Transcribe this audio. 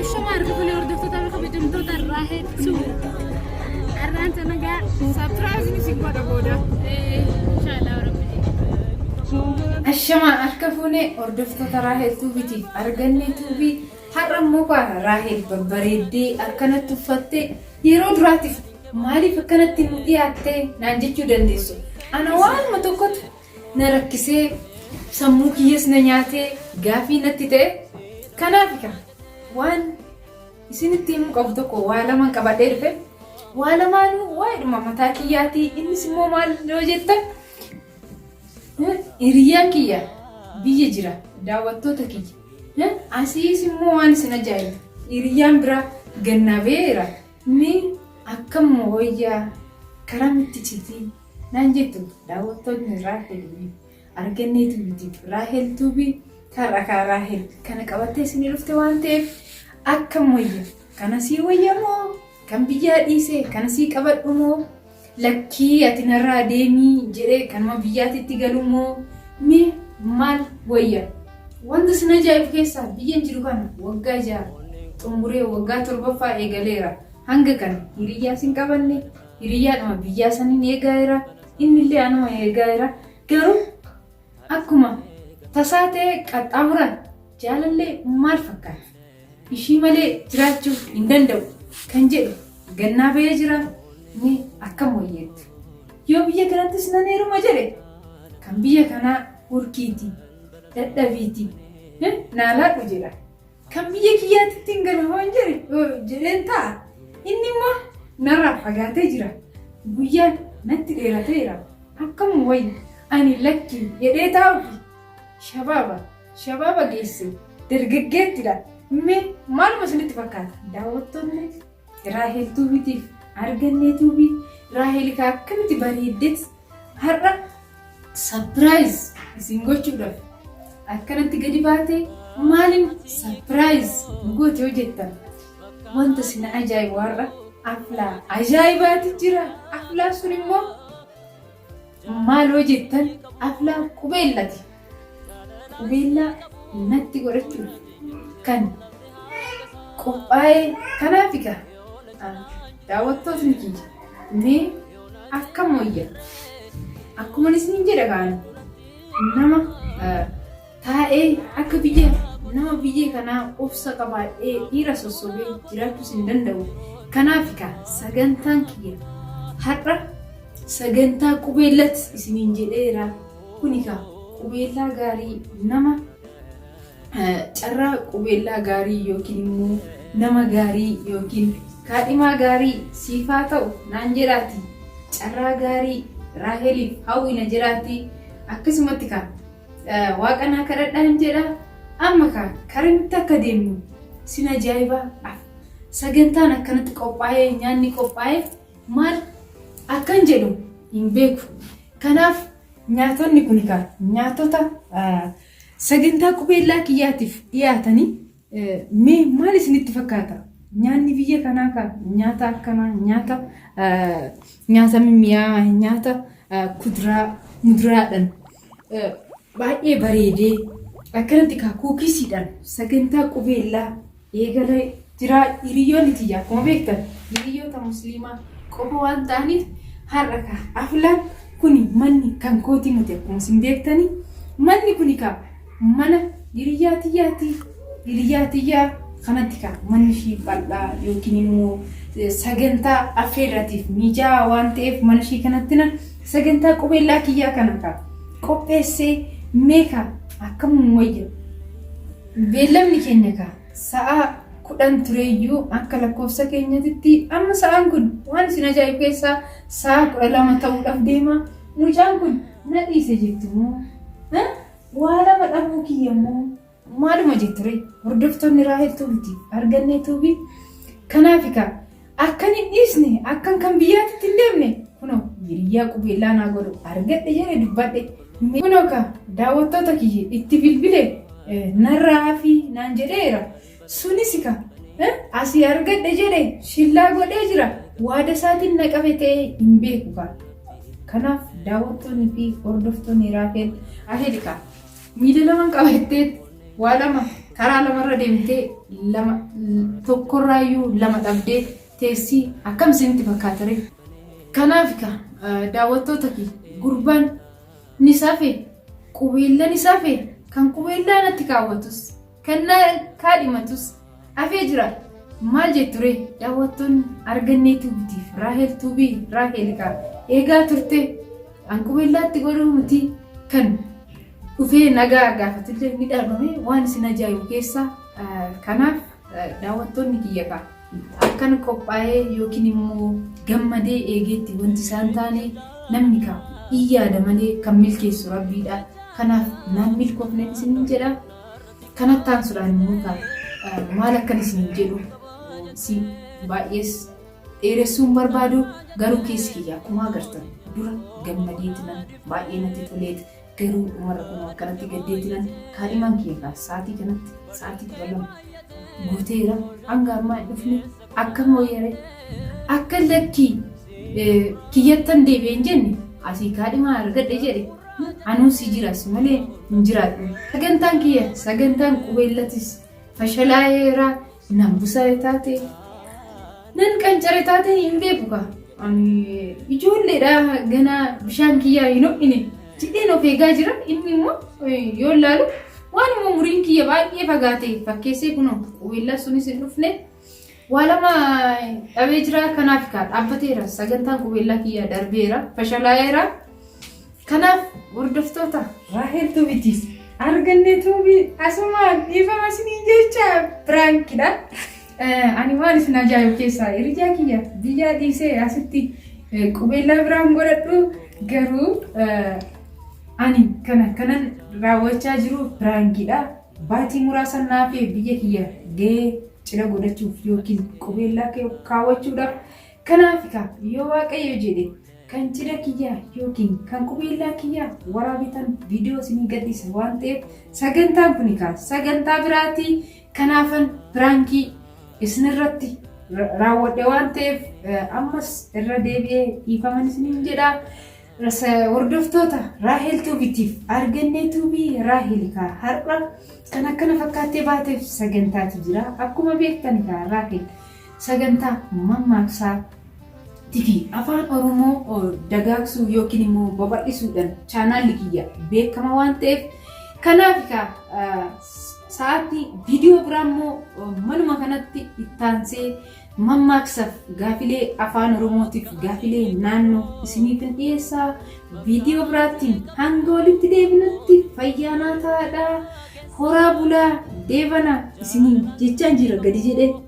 Ashuma arga kuni hordoftoota irra kabajamtoota irraa hedduu. Arraan sana gaa saapiraayiziin isin godha booda. Inshaallah rabbi. Ashamaa harka fuunee hordoftoota Raahel Tuubitiif arganne tuubii har'a immoo baana Raahel babbareeddee akkanatti uffattee yeroo duraatiif maaliif akkanatti nu dhiyaattee naan jechuu dandeessu. Ana waanuma tokkotu na rakkisee sammuu kiyyas na nyaatee gaafii natti ta'e kanaaf ka waan isinitti himuu qabu tokko waa lamaan qabadhee dhufe waa lamaanuu waa'eedhuma mataa kiyyaatii innis immoo maal yoo jettan hiriyyaan kiyya biyya jira daawwattoota kiyya asiis immoo waan isin ajaa'ibu hiriyyaan biraa gannaa beera mee akkamuma wayyaa karaa mitti citii Naan jettu daawwattootni Raahel Wi. Arganneetu YouTube Raahel Tuubii har'a kaa Raahel kana qabattee isinii dhufte waan ta'eef akkam wayya kana sii wayya moo kan biyyaa dhiise kana sii qabadhu moo lakkii ati narraa deemii jedhee kanuma biyyaatitti galu moo mee maal wayya wanta sin ajaa'ibu keessaa biyyan jiru kana waggaa ja'a xumuree waggaa torbaffaa eegaleera hanga kana hiriyyaa sin qabanne Hiriyyaadhuma biyyaa saniin eegaa jira. Innillee anuma eegaa jira. Garuu akkuma tasaa ta'e qaxxaamuran jaalallee maal fakkaata? Ishii malee jiraachuu hin danda'u kan jedhu gannaa ba'ee jira. Mee akkam wayyeettu? Yoo biyya kanattis nan heeruma jedhe kan biyya kanaa hurkiiti, dadhabiiti, naalaadhu jedha. Kan biyya kiyyaatti ittiin gala waan jedhe jedheen ta'a. Inni immoo narraa fagaatee jira. Guyyaan natti dheerateera. Akkam wayya ani lakki jedhee taa'uufi. Shabaaba shabaaba geesse dargaggeettidha. Mee maaluma isinitti fakkaata? Daawwattoonni Raahel Tuubiitiif argannee tuubii Raahel akkamitti bareeddetti Har'a sapiraayiz isin gochuudhaaf akkanatti gadi baate maaliin sapiraayiz nu goote yoo jettan wanta isin ajaa'ibu har'a aflaa ajaa'ibaati jira. Aflaa sun immoo maal yoo jettan aflaa qubeellati. qubeellaa natti godhachuuf kan qophaa'ee kanaaf egaa daawwattootni kiyya mee akka mooyya akkuma isiniin jedha kaan nama taa'ee akka biyya nama biyya kanaa obsa qabaadhee dhiira sossobee jiraachuus hin danda'u kanaaf egaa sagantaan kiyya har'a sagantaa qubeellatti isiniin jedheera. Kuni kaa qubeellaa gaarii nama carraa qubeellaa gaarii yookiin immoo nama gaarii yookiin kaadhimaa gaarii siif haa ta'u naan jedhaati carraa gaarii raaheliif hawwina jedhaati akkasumatti kaa waaqa naa kadhadhaan jedha amma kaa karamitti akka deemnu sin ajaa'ibaa af sagantaan akkanatti qophaa'ee nyaanni qophaa'ee maal akkan jedhu hin beeku Kanaaf nyaatonni kun egaa nyaatota sagantaa qubeellaa kiyyaatiif dhiyaatanii mee maal isinitti fakkaata? Nyaanni biyya kanaa kan nyaata akkanaa nyaata nyaata mimmi'aawaa nyaata kuduraa muduraadhaan baay'ee bareedee akkanatti kaa kuukisiidhaan sagantaa qubeellaa eegalee jira. Hiriyyoonni tiyya akkuma beektan hiriyyoota musliimaa qofa waan ta'aniif har'a ka aflaan kuni manni kan kootii miti akkuma isin beektanii manni kuni ka mana hiriyyaa tiyyaati hiriyyaa tiyyaa kanatti ka manni ishii bal'aa yookiin immoo sagantaa affeerratiif miijaa waan ta'eef mana ishii kanatti na sagantaa qubeellaa kiyyaa kana ka qopheessee meeqa akkamuma wayya Beellamni keenya egaa sa'a 10 tureeyyuu akka lakkoofsa keenyatitti amma sa'aan kun waan isin ajaa'ibu keessaa sa'a 12 ta'uudhaaf deema. Mucaan kun na dhiise jettu moo? Ha? Waa lama dhabuu kiyya moo? Maaluma jettu ree? Hordoftoonni Raahel Tuubiti argannee tuubi. Kanaaf egaa Akkan hin dhiisne, akkan kan biyyaatitti hin deemne kunoo hiriyyaa qubeellaa naa godhu argadhe jedhe dubbadhe. Kunoo ka daawwattoota kiyya itti bilbile narraa hafi naan jedheera. Sunis ka asii argadhe jedhe shillaa godhee jira. Waada isaatiin na qabe ta'ee hin beeku ka. Kanaaf daawwattoonni fi hordoftoonni Raafeel Ahel ka Miila lama qabattee waa lama karaa lamarra deemtee lama tokkorraayyuu lama dhabdee teessii akkam isinitti fakkaata ree? Kanaaf ka daawwattoota kee gurbaan ni safe qubeellan ni safe kan qubeellaa natti kaawwatus Kennaa kaadhimatus hafee jira. Maal jettu ree daawwattoonni argannee tuubitiif Raahel tuubii Raahel kaa eegaa turte an qubeellaatti godhuu miti kan dhufee nagaa gaafatullee ni dhabame waan isin ajaa'ibu keessaa kanaaf daawwattoonni kiyya kaa akkan qophaa'ee yookiin immoo gammadee eegeetti wanti isaan taane namni kaa iyyaada malee kan milkeessu rabbiidha kanaaf naan milkoofne isin jedha. Kanatti aansuudhaan immoo kaa maal akkan isiniin jedhu si baay'ees dheeressuun barbaadu garuu keessi kiyya akkuma agartan dura gammadeetinan baay'ee natti toleet garuu dhumarra kunoo akkanatti gaddeetinan kaadhimaan kiyya kaa sa'aatii kanatti sa'aatii kudha lama guuteera hanga ammaa hin dhufne Akka mooyere akka lakki kiyyattan deebi'e hin jenne asii kaadhimaa argadhe jedhe anuu si jira si malee hin jiraadhu sagantaan kiyya sagantaan qubeellatis fashalaa'eera nan busare taate nan qancare taate hin beeku kaa ani ijoolleedha ganaa bishaan kiyyaa hin ho'ine. Jedheen of eegaa jira inni immoo yoo ilaalu waan immoo umuriin kiyya baay'ee fagaatee fakkeessee kunoo qubeellaa sunis hin dhufne waa lama dhabee jira kanaaf kaa dhaabbateera sagantaan qubeellaa kiyya darbeera fashalaa'eera kanaaf hordoftoota Raahel Tuubitiis argannee tuubii asumaan dhiifama isiniin jecha piraankidha. Ani waan isin ajaa'ibu keessaa hiriyaa kiyya biyyaa dhiisee asitti qubeellaa biraan godhadhu garuu ani kana kanan raawwachaa jiru biraangiidha. Baatii muraasan naafee biyya kiyya gahee cidha godhachuuf yookiin qubeellaa kaawwachuudhaaf kanaaf egaa yoo waaqayyo jedhe kan cidha kiyyaa yookiin kan qubeellaa kiyyaa waraabitan viidiyoo isinii gadhiisa waan ta'eef sagantaan kun egaa sagantaa biraatii Kanaafan piraankii isinirratti raawwadhe waan ta'eef ammas irra deebi'ee dhiifaman isiniin jedha. Hordoftoota Raahel Tuubitiif argannee tuubii Raahel kaa har'a kan akkana fakkaattee baateef sagantaatu jira. Akkuma beektan kaa Raahel sagantaa mammaaksaa TV afaan Oromoo dagaagsuu yookiin immoo babal'isuudhaan chaanaalli kiyya beekama waan ta'eef kanaaf kaa Sa'aatii viidiyoo biraa immoo manuma kanatti ittaansee mammaaksaaf gaafilee afaan oromootiif gaafilee naannoo isiniif hin dhiyeessaa viidiyoo biraattiin hanga walitti deebinutti fayyaa naa taa'aa horaa bulaa deebana isiniin jechaan jira gadi jedhee.